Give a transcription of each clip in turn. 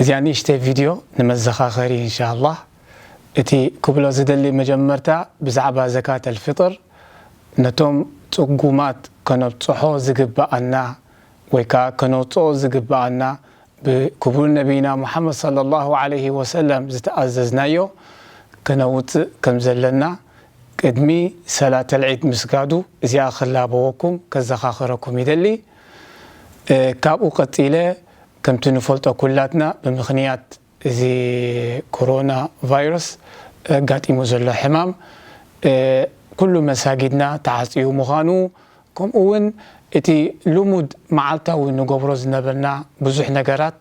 እዚኣ ንእሽተይ ቪድዮ ንመዘኻኸሪ እንሻላህ እቲ ክብሎ ዝደሊ መጀመርታ ብዛዕባ ዘካት ኣልፍጥር ነቶም ፅጉማት ከነብፅሖ ዝግበኣና ወይ ከዓ ከነውፅኦ ዝግበኣና ብክቡር ነቢይና ሙሓመድ ሰለላሁ ዓለይሂ ወሰለም ዝተኣዘዝናዮ ከነውፅእ ከም ዘለና ቅድሚ ሰላተል ዒድ ምስጋዱ እዚኣ ክላበወኩም ከዘኻኽረኩም ይደሊ። ካብኡ ቀጺለ ከምቲ ንፈልጦ ኩላትና ብምኽንያት እዚ ኮሮና ቫይረስ ኣጋጢሙ ዘሎ ሕማም ኩሉ መሳጊድና ተዓጽዩ ምዃኑ ከምኡ ውን እቲ ልሙድ መዓልታዊ ንገብሮ ዝነበርና ብዙሕ ነገራት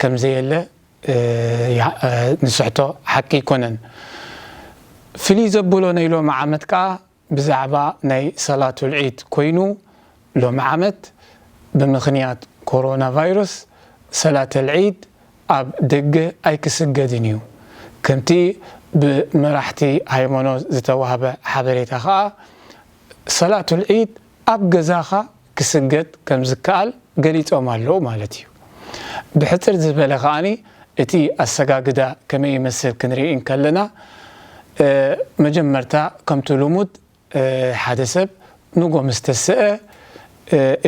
ከምዘየለ ንስሕቶ ሓቂ ኣይኮነን። ፍልይ ዘብሎ ናይ ሎሚ ዓመት ከኣ ብዛዕባ ናይ ሰላቱል ዒድ ኮይኑ ሎሚ ዓመት ብምኽንያት ኮሮና ቫይረስ ሰላተል ዒድ ኣብ ደገ ኣይክስገድን እዩ። ከምቲ ብመራሕቲ ሃይሞኖት ዝተዋህበ ሓበሬታ ከኣ ሰላቱል ዒድ ኣብ ገዛኻ ክስገጥ ከምዝከኣል ገሊጾም ኣለዉ ማለት እዩ። ብሕጽር ዝበለ ከኣ እቲ ኣሰጋግዳ ከመይ ይመስል ክንርኢ እንከለና መጀመርታ ከምቱ ልሙድ ሓደ ሰብ ንጎ ምስ ተሰአ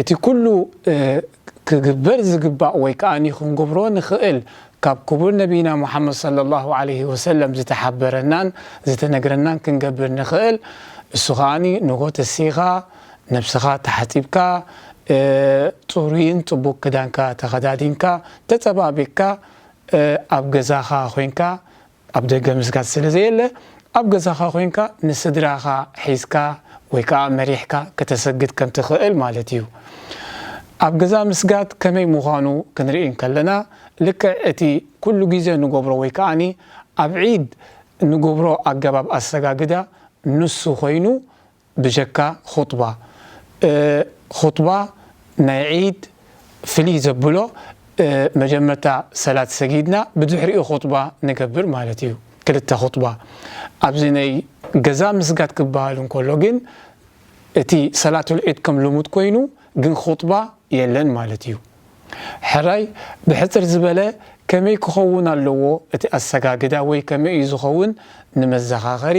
እቲ ኩሉ ክግበር ዝግባእ ወይ ከኣ ክንገብሮ ንኽእል ካብ ክቡር ነቢና ሙሓመድ ሰለላሁ ዓለይሂ ወሰለም ዝተሓበረናን ዝተነግረናን ክንገብር ንኽእል እሱ ከኣ ንጎ ተሲኻ ነብስኻ ተሓጺብካ ጽሩይን ጽቡቅ ክዳንካ ተኸዳዲንካ ተጸባቢቅካ ኣብ ገዛኻ ኮንካ ኣብ ደገ ምስጋድ ስለ ዘየለ ኣብ ገዛኻ ኮንካ ንስድራኻ ሒዝካ ወይ ከኣ መሪሕካ ከተሰግድ ከም ትኽእል ማለት እዩ። ኣብ ገዛ ምስጋድ ከመይ ምዃኑ ክንርኢ እንከለና ልክዕ እቲ ኩሉ ግዜ ንገብሮ ወይ ከኣ ኣብ ዒድ ንገብሮ ኣገባብ ኣሰጋግዳ ንሱ ኮይኑ ብጀካ ኹጥባ ኹጥባ ናይ ዒድ ፍልይ ዘብሎ መጀመርታ ሰላት ሰጊድና ብድሕሪኡ ኹጥባ ንገብር ማለት እዩ ክልተ ኹጥባ ኣብዚ ናይ ገዛ ምስጋድ ክበሃል እንከሎ ግን እቲ ሰላቱል ዒድ ከም ልሙድ ኮይኑ ግን ኹጥባ የለን ማለት እዩ ሕራይ ብሕጽር ዝበለ ከመይ ክኸውን ኣለዎ እቲ ኣሰጋግዳ ወይ ከመይ እዩ ዝኸውን ንመዘኻኸሪ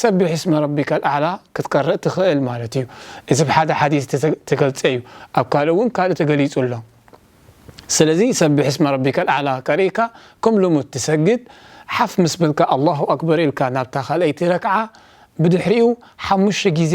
ሰቢሕ እስመ ረቢከል ኣዕላ ክትቀርእ ትኽእል ማለት እዩ። እዚ ብሓደ ሓዲስ ዝተገልጸ እዩ። ኣብ ካልእ እውን ካልእ ተገሊጹ ኣሎ። ስለዚ ሰቢሕ እስመ ረቢከል ኣዕላ ቀሪእካ ከም ልሙድ ትሰግድ ሓፍ ምስ በልካ ኣላሁ ኣክበር ኢልካ ናብታ ካልኣይቲ ረክዓ ብድሕሪኡ ሓሙሽተ ግዜ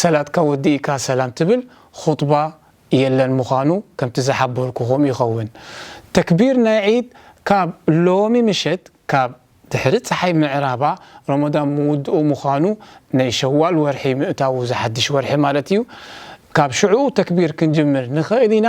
ሰላትካ ወዲእካ ሰላም ትብል ኹጥባ የለን ምዃኑ ከምቲ ዝሓበርኩኹም ይኸውን። ተክቢር ናይ ዒድ ካብ ሎሚ ምሸት ካብ ድሕሪ ጸሓይ ምዕራባ ሮሞዳን ምውድኡ ምዃኑ ናይ ሸዋል ወርሒ ምእታዉ እዚ ሓድሽ ወርሒ ማለት እዩ ካብ ሽዑ ተክቢር ክንጅምር ንኽእል ኢና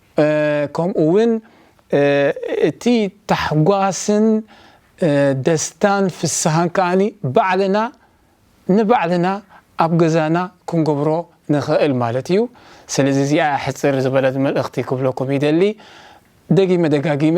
ከምኡ ውን እቲ ታሕጓስን ደስታን ፍስሃን ከኣ ባዕልና ንባዕልና ኣብ ገዛና ክንገብሮ ንኽእል ማለት እዩ። ስለዚ እዚኣ እያ ሕጽር ዝበለት መልእኽቲ ክብለኩም ይደሊ። ደጊመ ደጋጊመ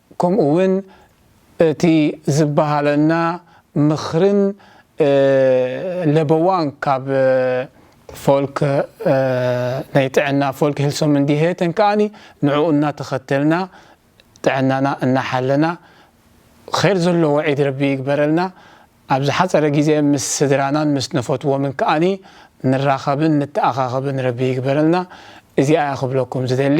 ከምኡ ውን እቲ ዝበሃለና ምኽርን ለበዋን ካብ ፎልክ ናይ ጥዕና ፎልክ ሄልሶምንዲሄተን ከኣ ንዕኡ እናተኸተልና ጥዕናና እናሓለና ኼር ዘለዎ ዒድ ረቢ ይግበረልና ኣብ ዝሓጸረ ግዜ ምስ ስድራናን ምስ ንፈትዎምን ከኣ ንራኸብን ንተኣኻኸብን ረቢ ይግበረልና እዚኣ እያ ክብለኩም ዝደሊ